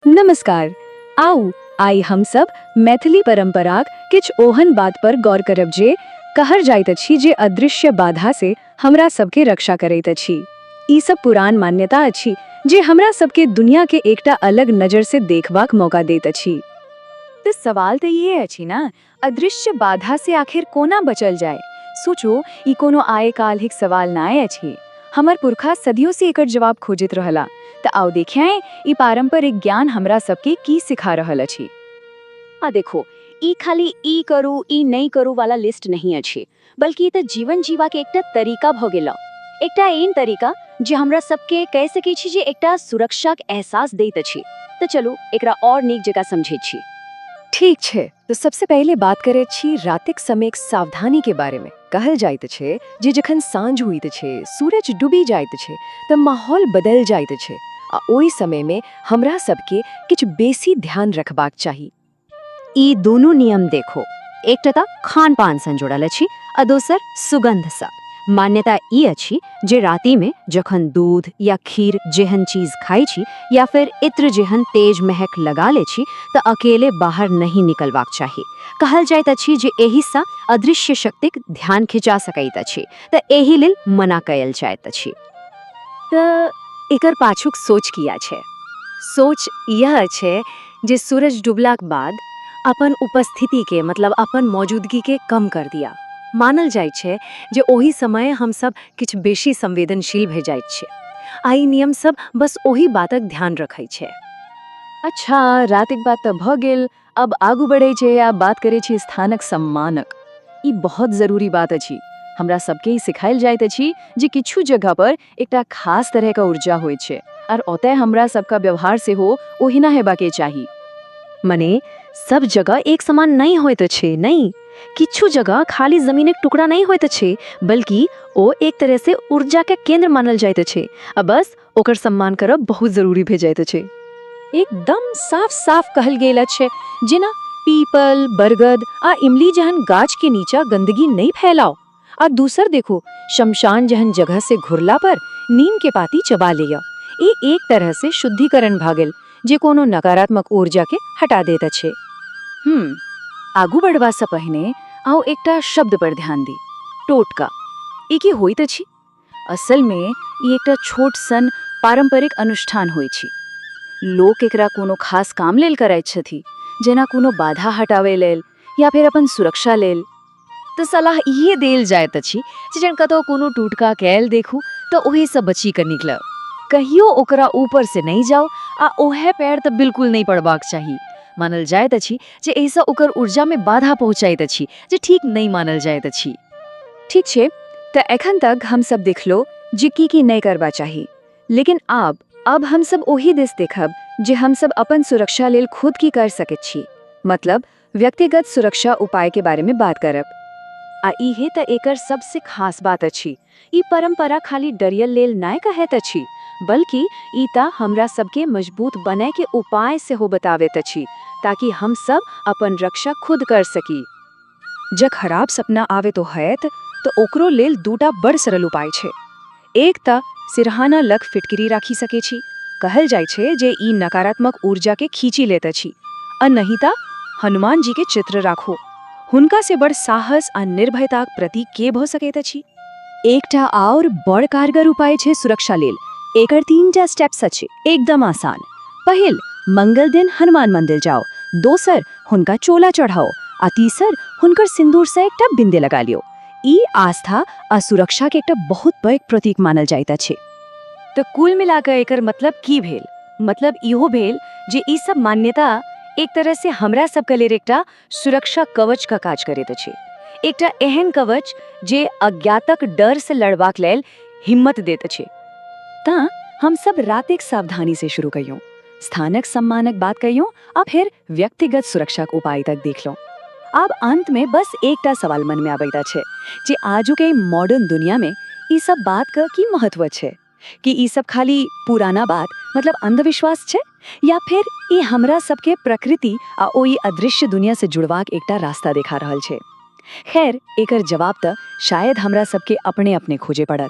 नमस्कार आउ आइ हम सब मैथिली परंपराक किछ ओहन बात पर गौर करब जे कहर जाइत अछि जे अदृश्य बाधा से हमरा सब के रक्षा करैत अछि ई सब पुरान मान्यता अछि जे हमरा सब के दुनिया के एकटा अलग नजर से देखबाक मौका देत अछि त सवाल त इहे अछि न अदृश्य बाधा से आखिर कोना बचल जाय? सोचु, ई कोनो आए-काल्हिक सवाल नाए अछि। हमर पुरखा सदियो से एकर जवाब खोजैत रहला। त आउ देखियाएँ, ई पारंपरिक ज्ञान हमरा सब के की सिखा रहल अछि। आ देखु, ई खाली ई करू, ई नइ करू वाला लिस्ट नहिं अछि। बल्कि त जीवन जीवा के एकटा तरीका भ गेल। एकटा एहन तरीका जे हमरा सब के कहि सकैत छी जे एकटा सुरक्षाक एहसास दैत अछि। त चलू एकरा और नीक जकाँ समझैत छी। ठीक छै, त सबसे पहिले बात करैत छी रातिक समयक सावधानी के बारे में। कहल जाइत अछि जे जखन साँझ होइत अछि, सूरज डूबि जाइत अछि त माहौल बदलि जाइत अछि आ ओहि समय में हमरा सब के किछु बेसी ध्यान रखबाक चाही। ई दुनू नियम देखो एकटा तऽ खान पान सँ जुड़ल अछि आ दोसर सुगंध सँ मान्यता ई अछि जे राति में जखन दूध या खीर जेहन चीज खाइ छी या फिर इत्र जेहन तेज महक लगा ले छी तऽ अकेले बाहर नहि निकलबाक चाही कहल जाइत अछि जे एहि सँ अदृश्य शक्तिक ध्यान खिचा सकैत अछि तऽ एहि लेल मना कयल जाइत अछि तऽ एकर पाछूक सोच की अछि? सोच इएह अछि जे सूरज डूबलाक बाद अपन उपस्थितिकेँ, मतलब अपन मौजूदगीकेँ कम कऽ दिअ। मानल जाइत अछि जे ओहि समये हम सभ किछु बेसी संवेदनशील भऽ जाइत छी, आ ई नियम सभ बस ओहि बातक ध्यान रखैत अछि। अच्छा, रातिक बात तऽ भऽ गेल। अब आगू बढ़े छे आ बात करे छी स्थानक सम्मानक ई बहुत जरूरी बात अछि हमरा सबके ई सिखायल जाइत अछि जे किछु जगह पर एकटा खास तरह का ऊर्जा होय छे आर ओतय हमरा सबका व्यवहार से हो ओहिना हेबा के चाही मने सब जगह एक समान नहीं होइत अछि नहीं किछु जगह खाली जमीन के टुकड़ा नहीं होइत अछि बल्कि ओ एक तरह से ऊर्जा के केंद्र मानल जाइत अछि आ बस ओकर सम्मान करब बहुत जरूरी भे जाइत अछि एकदम साफ साफ कहल गेल अछि जेना पीपल बरगद आ इमली जहन गाछ के नीचा गंदगी नहीं फैलाओ आ दूसर देखो शमशान जहन जगह से घुरला पर नीम के पाती चबा लिया ई एक तरह से शुद्धिकरण भा गेल जे कोनो नकारात्मक ऊर्जा के हटा देत अछि हम्म आगू बढ़वा से पहिने आओ एकटा शब्द पर ध्यान दी टोटका ई की होइत अछि असल में ई एकटा छोट सन पारंपरिक अनुष्ठान होइत छी लोक एकरा कोनो खास काम लेल करैत छथि जेना कोनो बाधा हटावे लेल या फिर अपन सुरक्षा लेल तऽ सलाह इहे देल जाइत अछि जे जन कतौ कोनो टूटका कैल देखू तऽ ओहे से बची के निकल कहियो ओकरा ऊपर से नहीं जाओ आ ओहे पैर तऽ बिल्कुल नहीं पड़बाक चाही मानल जाइत अछि जे एहिसँ ओकर ऊर्जा में बाधा पहुँचैत अछि जे ठीक नहीं मानल जाइत अछि ठीक छे त एखन तक हम सब देखलो जे की की नै करबा चाही लेकिन आब अब हम सब ओहि दिस देखब जे हम सब अपन सुरक्षा लेल खुद की कर सकैत छी मतलब व्यक्तिगत सुरक्षा उपाय के बारे में बात करब। आ इहे त एकर सबसे खास बात अछि। ई परंपरा खाली डरियल लेल नै कहैत अछि बल्कि ई त हमरा सब के मजबूत बनय के उपाय सेहो बतावैत अछि ताकि हम सब अपन रक्षा खुद कर सकी। जँ खराब सपना आवेतो हएत तँ ओकरो लेल दूटा बड़ सरल उपाय छै। एक तँ सिरहाना लग फिटकिरी राखि सकै छी। कहल जाइ छै जे ई नकारात्मक ऊर्जाकेँ खींचि लैत अछि। आ नहि तँ हनुमानजीक चित्र राखू। हुनकासँ बड़ साहस आ निर्भयताक प्रतीक के भऽ सकैत अछि? एकटा आओर बड़ कारगर उपाय छै सुरक्षा लेल एकर तीन टा स्टेप्स अछि एकदम आसान पहिल मंगल दिन हनुमान मंदिर जाओ दोसर हुनका चोला चढ़ाओ आ तीसर हुनकर सिंदूर से एकटा बिंदे लगा लियो ई आस्था आ सुरक्षा के एकटा बहुत पैघ प्रतीक मानल जाइत अछि तो कुल मिलाकर एकर मतलब की भेल मतलब इहो भेल जे ई सब मान्यता एक तरह से हमरा सब के लेल एकटा सुरक्षा कवच का काज करैत अछि एकटा एहन कवच जे अज्ञातक डर से लड़बाक लेल हिम्मत देत अछि ता हम सब रातिक सावधानी से शुरू कहियो स्थानक सम्मानक बात कहियो आ फिर व्यक्तिगत सुरक्षा के उपाय तक देख लो आब अंत में बस एकटा सवाल मन में आबैत अछि जे आजु के मॉडर्न दुनिया में ई सब बात क की महत्व अछि कि ई सब खाली पुराना बात मतलब अंधविश्वास छै या फिर ई हमरा सबके प्रकृति आ ओहि अदृश्य दुनिया से जुड़वाक एकटा रास्ता देखा रहल छै खैर एकर जवाब त शायद हमरा सबके अपने अपने खोजे पड़त